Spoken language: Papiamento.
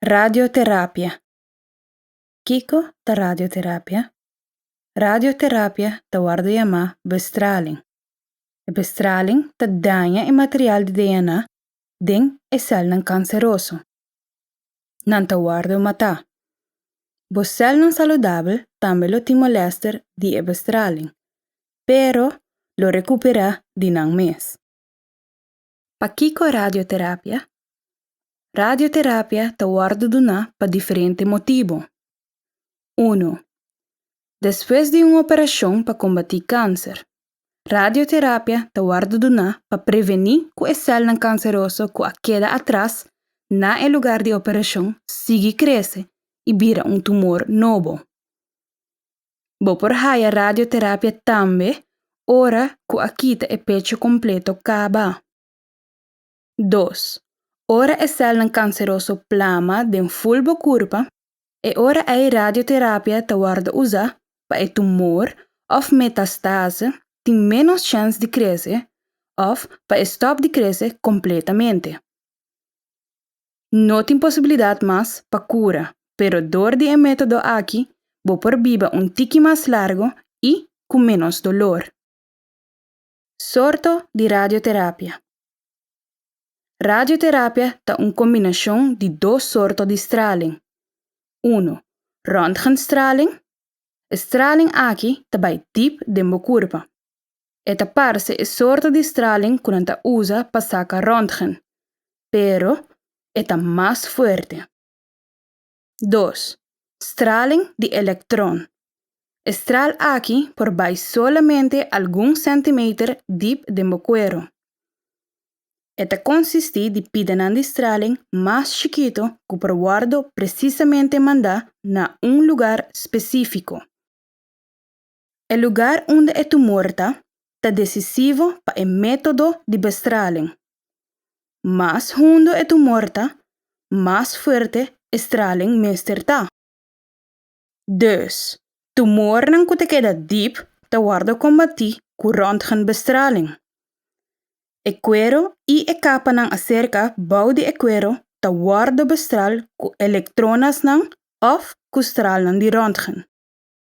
Radioterapia. Kiko ta radioterapia? Radioterapia ta wordo yamá bestraling. E bestraling ta daña e material di DNA den e sèlnan kanseroso. Nan ta wordo matá. Bo sèlnan saludabel tambe lo tin molèster di e bestraling, pero lo rekuperá di nan mes. Pakiko radioterapia? Radioterapia ta wòrdu duná pa diferente motibu. Unu, despues di un operashon pa kombatí kanser, radioterapia ta wòrdu duná pa prevení ku e sèlnan kanseroso ku a keda atras na e lugar di operashon sigui krese i bira un tumor nobo. Bo por haya radioterapia tambe ora ku a kita e pecho kompleto kaba. Dos, ora e sèlnan kanseroso plama den ful bo kurpa, e ora ei radioterapia ta wòrdu usa pa e tumor òf metastase tin ménos chèns di krese òf pa e stòp di krese kompletamente. No tin posibilidat mas pa kura, pero dor di e método aki bo por biba un tiki mas largu i ku ménos dolor. Sorto di radioterapia. Radioterapia ta un kombinashon di dos sorto di straling. Unu, Röntgenstraling. E straling aki ta bai dip den bo kurpa. E ta parse e sorto di straling ku nan ta usa pa saka ròntgen, pero e ta mas fuerte. Dos, Straling di elektron. E stral aki por bai solamente algun sentimeter dip den bo kuero. E ta konsistí di pidanan di straling mas chikito ku por wòrdu presisamente mandá na un lugar spesífiko. E lugar unda e tumor ta, ta desisivo pa e método di bestralen. Mas hundo e tumor ta, mas fuerte e stralen mester ta. Dus, tumornan ku ta keda dip ta wòrdu kombatí ku röntgenbestraling. E kuero i e kapanan aserka bou di e kuero ta wòrdu bestral ku elektronasnan òf ku stralnan di röntgen.